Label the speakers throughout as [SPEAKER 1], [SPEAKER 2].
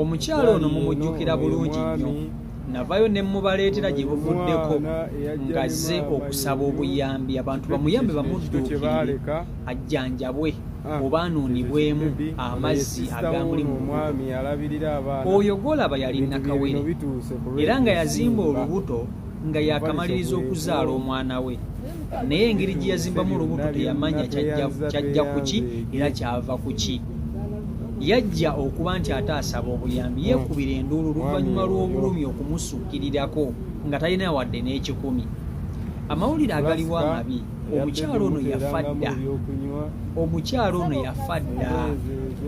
[SPEAKER 1] omukyalo ono mumujjukira bulungi nnyo navayo ne mubaleetera gye buvuddeko ngazze okusaba obuyambi abantu bamuyambe bamudduukirire ajjanjabwe ah, oba anuunibwemu amazzi agambuli mu oyo gwolaba yali nakawere era nga yazimba olubuto nga yakamaliriza okuzaala omwana we naye engeri gye yazimbamu olubuto teyamanya kyajja kuki era kyava kuki yajja okuba nti ate asaba obuyambi yekubira enduulu luvannyuma lw'obulumi okumusukirirako nga talina wadde n'ekikumi amawulire agaliwo amabi omukyalo ono yafa dda omukyalo ono yafa dda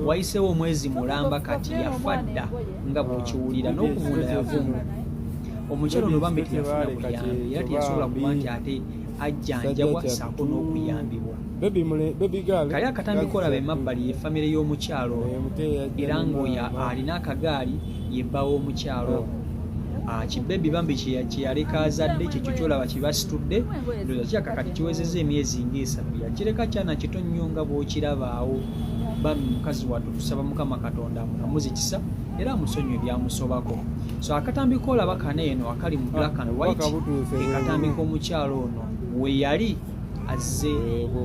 [SPEAKER 1] wayiseewo omwezi mulamba kati yafa dda nga bwekiwulira n'okuvunda yavunda omukyalo ono bambi teyafuna buyambi era teyasobola kuba nti ate ajjanjabwa saako n'okuyambibwa kali akatambi kolaba emabbali ye famire y'omukyalo era ng'oyo alina akagaali ye bba w'omukyalo oh. ah, kibebi bambi kyeyaleka azadde kyekyo kyolaba kibasitudde ndoza kyaka kati kiwezeza emyezi ngaesatu yakireka kyana kito nnyo nga bwokirabaawo bambi mukazi watu tusaba mukama katonda amukamuzi kisa era amusonyiwe ebyamusobako so akatambi kolaba kano eno akali mu black and white kekatambi k'omukyalo ono weyali azze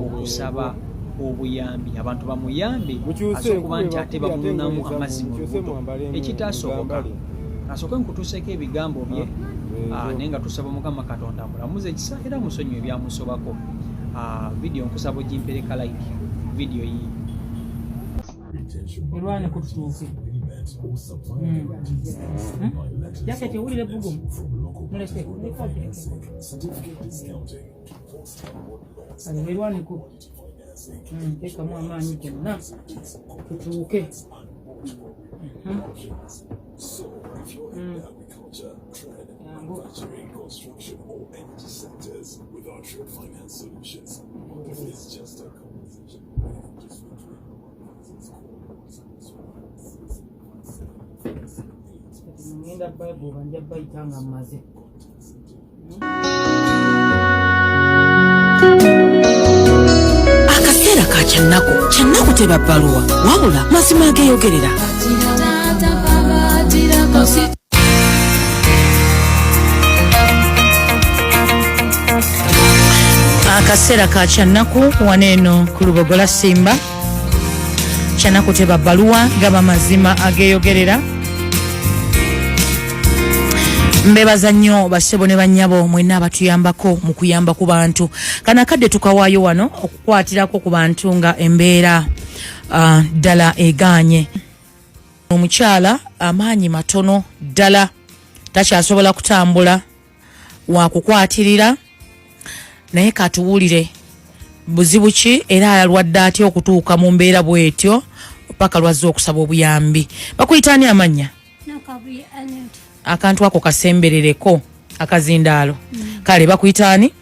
[SPEAKER 1] okusaba obuyambi abantu bamuyambe aze okuba nti ate bamununamu amazzi mu lubuto ekitaasoboka asooke nkutuuseko ebigambo bye ah, ah, naye nga tusaba mukama katonda mulamuze ekisa era musonyiwa ebyamusobako ah, vidiyo nkusaba ogimpereka like vidiyo yii erwanye ku
[SPEAKER 2] tutuuke jaketi owulire bugumu muleke kano werwaneko hmm, tekamu amaanyi gonna tutuuke hmm. Hmm. ngenda bible banja bayita nga mmaze
[SPEAKER 3] akaseera ka kyannaku kyannaku teba bbaluwa wabula mazima ageeyogerera akaseera ka kyannaku wano eno ku lubogola simba kyanaku teba baluwa gaba mazima ageyogerera mbebaza nnyo basebo ne banyabo mwena abatuyambako mu kuyamba ku bantu kana kadde tukawaayo wano okukwatirako ku bantu nga embeera ah, ddala uh, eganye omukyala amaanyi matono ddala takyasobola kutambula wakukwatirira naye katuwulire buzibu ki era ayalwadde atya okutuuka mu mbeera bwetyo paka lwazze okusaba obuyambi bakuyita ani amannya akantu ako kasemberereko akazindaalo mm. kale bakuyita ani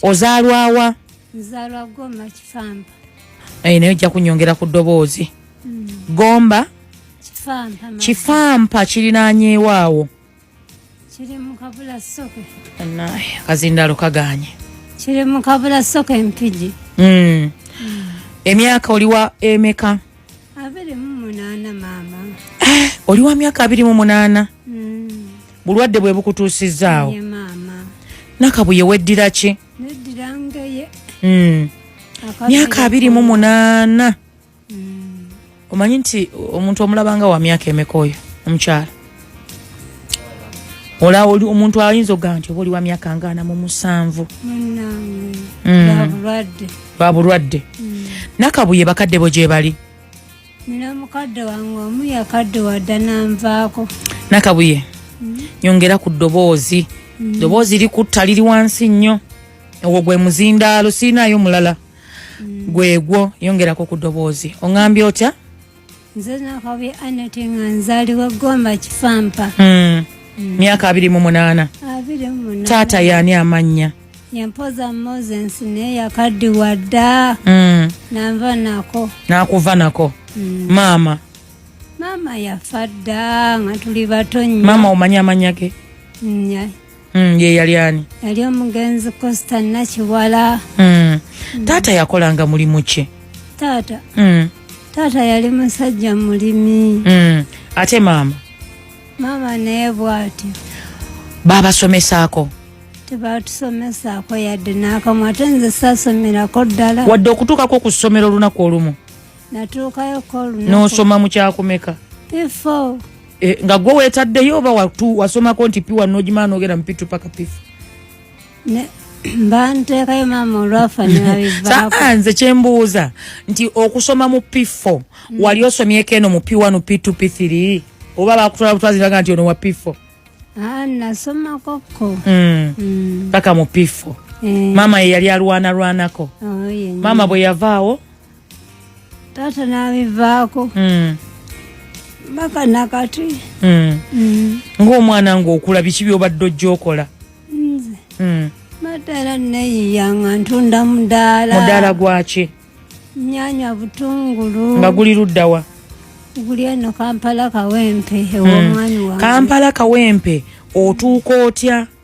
[SPEAKER 3] ozaalwawa
[SPEAKER 4] eh, naye ojja
[SPEAKER 3] kunyongera ku ddoboozi mm. gomba kifampa kirinanyeewaawo
[SPEAKER 4] kiri mu kabula soke anaye akazindalo
[SPEAKER 3] kaganye kiri mu
[SPEAKER 4] kabula soke empigi mm. mm.
[SPEAKER 3] emyaka oliwa emeka abiri mu
[SPEAKER 4] munana mama eh, oliwa
[SPEAKER 3] myaka abiri mu munana mm. bulwadde bwe bukutuusizaawo yeah, mama
[SPEAKER 4] nakabuye
[SPEAKER 3] weddira ki neddira ngeye
[SPEAKER 4] mm.
[SPEAKER 3] myaka abiri mu munana omanyi nti omuntu omulabanga wa myaka emeka oyo omukyala ola oli omuntu ayinza okugaa nti oba oli wa myaka ngaana mu musanvu babulwadde mm. mm. nakabuye bakadde bo gyebali
[SPEAKER 4] nakabuye
[SPEAKER 3] mm. nyongera ku ddoboozi ddoboozi likutta liri wansi nnyo ogwo gwe muzindaalo sirinaayo mulala mm. gwegwo yongerako ku doboozi oŋambye otya nze
[SPEAKER 4] nakabi aneti nga nzaliwa gomba kifampa hmm. hmm.
[SPEAKER 3] myaka abiri mu munaana taata yaani amannya yampoza
[SPEAKER 4] moses naye yakaddiwa dda hmm. nanva nako nakuva nako
[SPEAKER 3] maama maama
[SPEAKER 4] yafa dda nga tuli bato nyo maama omanya amanya ge
[SPEAKER 3] Mm, ye yali ani? Yali omugenzi
[SPEAKER 4] Costa Nakiwala.
[SPEAKER 3] Mm. Taata yakolanga
[SPEAKER 4] mulimu ki?
[SPEAKER 3] Taata. Mm.
[SPEAKER 4] Taata yali musajja mulimi. Mm. Ate
[SPEAKER 3] maama? Maama
[SPEAKER 4] naye bwati. Baba
[SPEAKER 3] somesako.
[SPEAKER 4] Tebatusomesako yadde n'akamu ate nze sasomerako ddala. Wadde okutuukako ku
[SPEAKER 3] ssomero olunaku olumu. natuukayo
[SPEAKER 4] kolunaku n'osoma mu kyakumeka
[SPEAKER 3] pifo
[SPEAKER 4] e, nga gwe
[SPEAKER 3] weetaddeyo oba watu wasomako nti piwa n'ogimala n'ogenda mu pitu paka pifo
[SPEAKER 4] banteekayo maama olwafa nebabivaako nze kyembuuza
[SPEAKER 3] nti okusoma mu p4 mm. wali osomyeko eno mu p1 p2 p3 oba bakutwala butwaziraga nti ono wa p4 ah, nasomakoko
[SPEAKER 4] mm. mm. paka
[SPEAKER 3] mu p4 eh. maama ye yali alwanalwanako oh, maama bwe yavaawo
[SPEAKER 4] taata n'abivaako hmm. mpaka nakati hmm. hmm. ng'omwana
[SPEAKER 3] ng'okula biki byobadde ojja okola nze
[SPEAKER 4] matera neyiya nga ntunda mudaala mudaala gwaki
[SPEAKER 3] nyanya
[SPEAKER 4] butungulu nga guli luddawa
[SPEAKER 3] guli eno
[SPEAKER 4] kampala kawempe ewomwani wange kampala kawempe
[SPEAKER 3] otuuka otya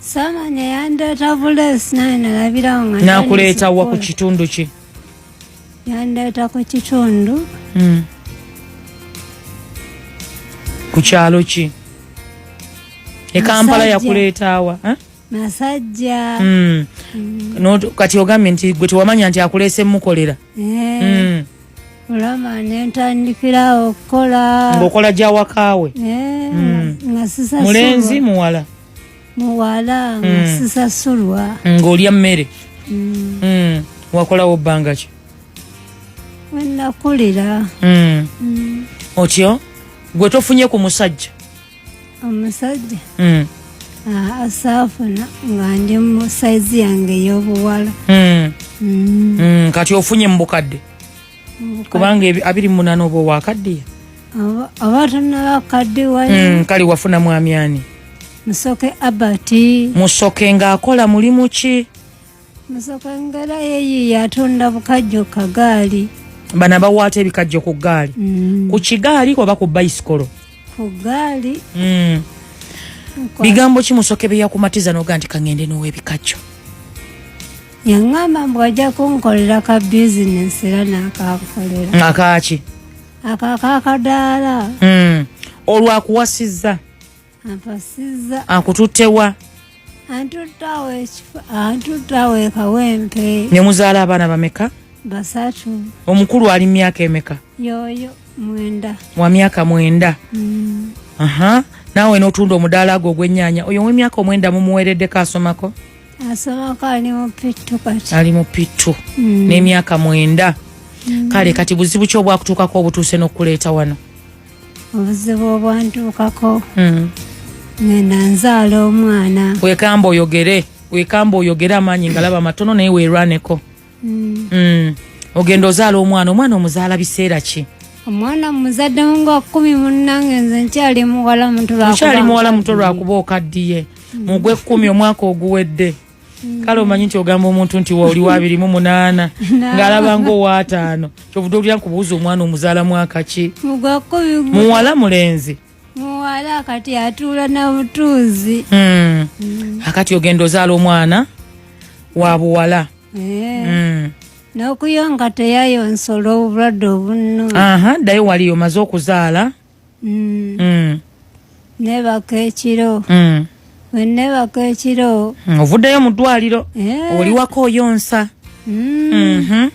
[SPEAKER 3] samanya
[SPEAKER 4] yandeeta buleesi naye nalabirawo nga nakuleeta wa ku
[SPEAKER 3] kitundu ki
[SPEAKER 4] yandeeta ku kitundu hmm.
[SPEAKER 3] ku kyalo ki e kampala yakuleetaawa eh? masajja
[SPEAKER 4] hmm. hmm.
[SPEAKER 3] kati ogambye nti gwe tewamanya nti akuleese mukolera eh.
[SPEAKER 4] olama nentandikirawo okukola ngaokola gyawakaawe eh, mulenzi muwala
[SPEAKER 3] muwala
[SPEAKER 4] mm. sisasulwa ng'olya mmere
[SPEAKER 3] mm. mm. wakolawo bbanga ki wenakulira
[SPEAKER 4] mm. mm.
[SPEAKER 3] otyo gwe tofunye ku musajja omusajja
[SPEAKER 4] mm. ah, asaafuna nga ndi mu saizi yange ey'obuwala mm. mm.
[SPEAKER 3] mm. kati ofunye mu bukadde kubanga abiri munana oba owakaddiye oba
[SPEAKER 4] tonabakaddiwa hmm, kale wafuna
[SPEAKER 3] mwami ani musoke
[SPEAKER 4] abert musoke ng'akola
[SPEAKER 3] mulimu ki musoke
[SPEAKER 4] ngera yeyi yatunda bukajjo kagaali bano abawaata
[SPEAKER 3] ebikajjo ku gaali hmm. ku kigaali oba ku bayisikolo ku gaali
[SPEAKER 4] hmm.
[SPEAKER 3] bigambo ki musoke byeyakumatiza noga nti kaŋende n'owebikajjo yaŋŋamba
[SPEAKER 4] mbu ajja kunkolera ka bizinesi era n'akankolera akaaki
[SPEAKER 3] akako akadaala
[SPEAKER 4] hmm. olwo
[SPEAKER 3] akuwasizza ampasizza
[SPEAKER 4] akututtewa
[SPEAKER 3] antuttawo ekifo
[SPEAKER 4] antuttawo ekawempe ne muzaala abaana
[SPEAKER 3] bameka basatu
[SPEAKER 4] omukulu ali
[SPEAKER 3] myaka emeka yoyo
[SPEAKER 4] mwenda wa myaka
[SPEAKER 3] mwenda hmm. aha naawe n'otunda omudaala gwo ogw'ennyaanya oyo ow'emyaka omwenda mumuweereddeko asomako asoboka
[SPEAKER 4] ali mu pittu kati ali mu pittu mm.
[SPEAKER 3] n'emyaka mwenda mm. kale kati buzibu ki obwakutuukako obutuuse n'okukuleeta wano obuzibu
[SPEAKER 4] obwantuukako mm. ngenda nzaala omwana wekamba oyogere
[SPEAKER 3] wekamba oyogere amaanyi ngalaba matono naye werwaneko mm. mm. ogenda ozaala omwana omwana omuzaala biseera ki omwana muzadde
[SPEAKER 4] nga kumi munange nze nkyali muwala mutokyali muwala muto lwakuba okaddiye
[SPEAKER 3] mm. mugwe kumi omwaka oguwedde mm. kale omanyi nti ogamba omuntu nti waoli wabiri mu munaana ngaalaba nga owaataano kyovude olya nkubuuza omwana omuzaala mwaka ki muwala mulenzi muwala
[SPEAKER 4] kati atuula na butuuzi mm. mm.
[SPEAKER 3] akati ogenda ozaala omwana wa buwala yeah. mm.
[SPEAKER 4] nokuyonga teyayonsola obulwadde obunno aha ddayo wali
[SPEAKER 3] omaze okuzaala mm. mm.
[SPEAKER 4] nebaka ekiro mm. wenebaka ekiro mm. ovuddeyo mu ddwaliro
[SPEAKER 3] yeah. oliwako oyonsa mm. mm -hmm.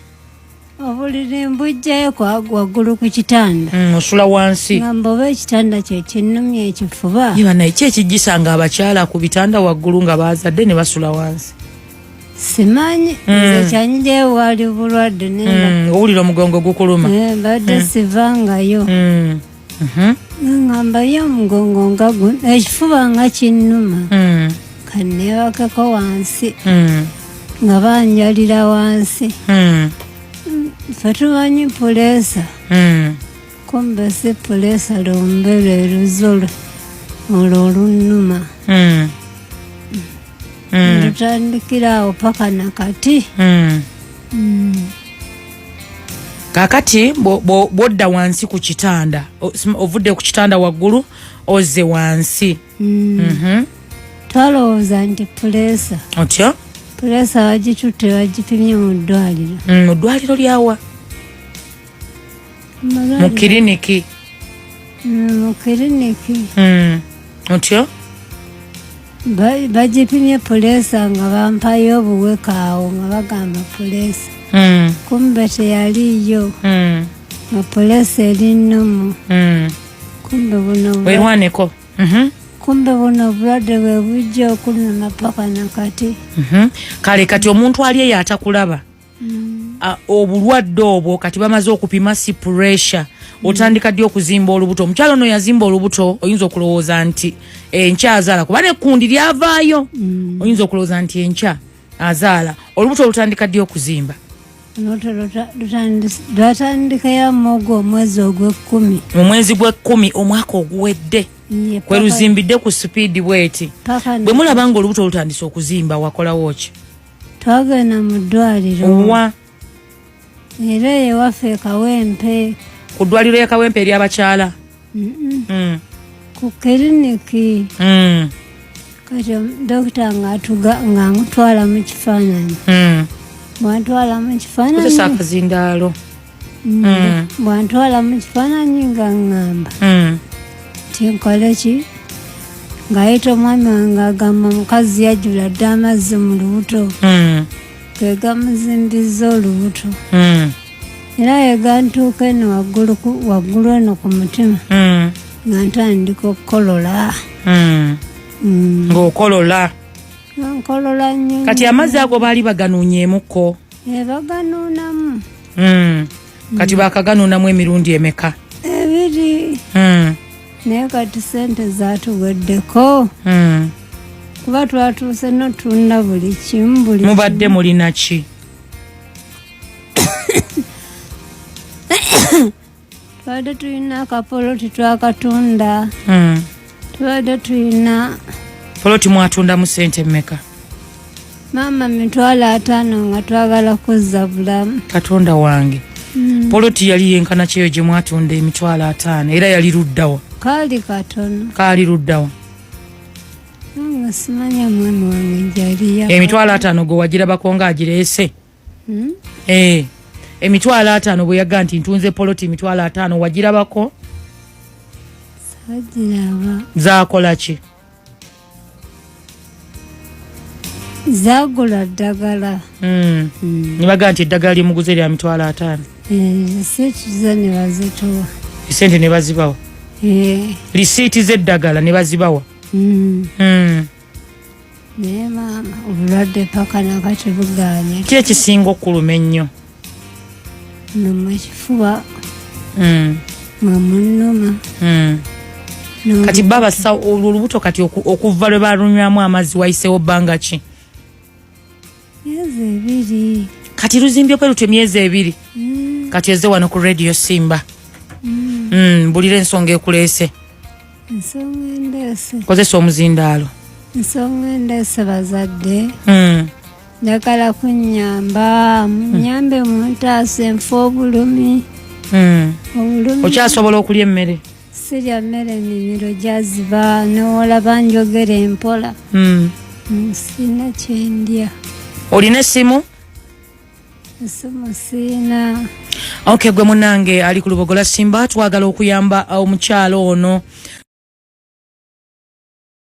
[SPEAKER 4] obuliri mbujjayo waggulu ku kitanda mm, osula wansi
[SPEAKER 3] ngamba oba ekitanda
[SPEAKER 4] kyekinnumya ekifuba iba naye ki ekijjisa
[SPEAKER 3] nga abakyala ku bitanda waggulu nga baazadde ne basula wansi simanyi
[SPEAKER 4] mm. nze kyanyijayo waali bulwadde mm, owulira
[SPEAKER 3] omugongo gukuluma eh, mbadde
[SPEAKER 4] sivangayo mhm. ngamba yo omugongo nga guno ekifuba nga kinnuma mm. kanneebakeko wansi mm. nga banjalira wansi mm. fe tumanyi puleesa kumbe si puleesa lumbere luzolo olwo olunnuma Mm. tutandikira awo paka nakati Mm. Mm.
[SPEAKER 3] kakati bwo- bwo- bwodda wansi ku kitanda o- sm- ovudde ku kitanda waggulu ozze wansi Mm. Mhm.
[SPEAKER 4] twalowooza nti puleesa otyo
[SPEAKER 3] puleesa
[SPEAKER 4] bagitutte bagipimye mu ddwaliro Mm, mu ddwaliro lyawa
[SPEAKER 3] mu kiriniki mm,
[SPEAKER 4] mu kiriniki mm.
[SPEAKER 3] otyo
[SPEAKER 4] bagipimye puleesa nga bampayo obuweka awo nga bagamba puleesa mm. kumbe teyaliyo nga puleesa eri nnomu kumbe buno werwaneko mhm.
[SPEAKER 3] kumbe
[SPEAKER 4] buno obulwadde bwe bujja okunuma paka nakati mhm. kale
[SPEAKER 3] kati omuntu ali eyo atakulaba mm. uh, obulwadde obwo kati bamaze okupima si pressure mm. otandika ddi okuzimba olubuto omukyalo ono yazimba olubuto oyinza okulowooza nti enkya azaala kuba nekundi lyavaayo mm. oyinza okulowooza nti enkya azaala olubuto olutandika ddi okuzimba
[SPEAKER 4] lwatandikayo mugo omwezi ogwekkumi mu mwezi gwekkumi
[SPEAKER 3] omwaka oguwedde kwe luzimbidde ku sipiidi bweti bwe mulaba nga olubuto olutandise okuzimba wakolawo ki twagenda
[SPEAKER 4] mu ddwaliro owa era eyo ewaffe ekawempe ku ddwaliro ya
[SPEAKER 3] kawempe eryabakyala mm.
[SPEAKER 4] ku kiriniki mm. kati dokita ngaamutwala mu kifaananyi mm. mwatwala mu kifaananyi akazindaalo
[SPEAKER 3] bwantwala
[SPEAKER 4] mu kifaananyi nga ŋŋamba nti nkole ki ng'ayita omwami wange agamba mukazi yajula dda amazzi mu lubuto ge gamuzimbiza olubuto era yegantuuka eno waggulu eno ku mutima hmm. nga ntandika okukolola hmm. hmm.
[SPEAKER 3] ngaokolola nkolola
[SPEAKER 4] nyo kati amazzi ago baali
[SPEAKER 3] baganonyemukko ebaganuunamu
[SPEAKER 4] hmm.
[SPEAKER 3] kati hmm. bakaganuunamu emirundi emeka ebiri
[SPEAKER 4] hmm. naye kati sente zatuweddeko kuba twatuuse notunda buli kimu buli mubadde mulinaki tubadde tulina akapoloti twakatunda hmm. tubadde tulina poloti
[SPEAKER 3] mwatunda mu sente mmeka maama
[SPEAKER 4] mitwalo ataano nga twagala kuzza bulamu katonda wange
[SPEAKER 3] hmm. poloti yali yenkana kyeyo gye mwatunda emitwalo ataano era yali luddawa kaali katono
[SPEAKER 4] kaali luddawa emitwalo ataano gwe
[SPEAKER 3] wagirabako nga agireese hmm? eh, emitwalo ataano bwe yaga nti ntunze poloti emitwalo ataano wagirabako
[SPEAKER 4] zakola ki zagula ddagala hmm. hmm.
[SPEAKER 3] nebaga nti eddagala lyemuguze lya mitwalo ataano esente
[SPEAKER 4] eh, nebazitowa esente nebazibawa
[SPEAKER 3] lisiiti eh. z'eddagala nebazibawa
[SPEAKER 4] naye maama obulwadde paka nakati buganye ki ekisinga
[SPEAKER 3] okuluma ennyo
[SPEAKER 4] numa ekifuba hmm. mwamunuma hmm.
[SPEAKER 3] kati babasa olwo olubuto kati okuva lwe balunywamu amazzi wayisewo bbanga ki
[SPEAKER 4] kati luzimbye
[SPEAKER 3] kwe lutyo emyezi ebiri mm. kati eze wano ku radio simba mm. mm, mbulira ensonga ekuleese
[SPEAKER 4] kozesa omuzindaalo
[SPEAKER 3] ensonga
[SPEAKER 4] endeese bazadde njagala kunyamba munyambe muntaasa enfa obulumi obulumi
[SPEAKER 3] okyasobola okulya emmere sirya mmere
[SPEAKER 4] mimiro gyaziba nowolaba njogera empola hmm. nsina kyendya olina
[SPEAKER 3] esimu
[SPEAKER 4] esimu siina ok gwe
[SPEAKER 3] munange ali ku lubogola simba twagala okuyamba omukyalo ono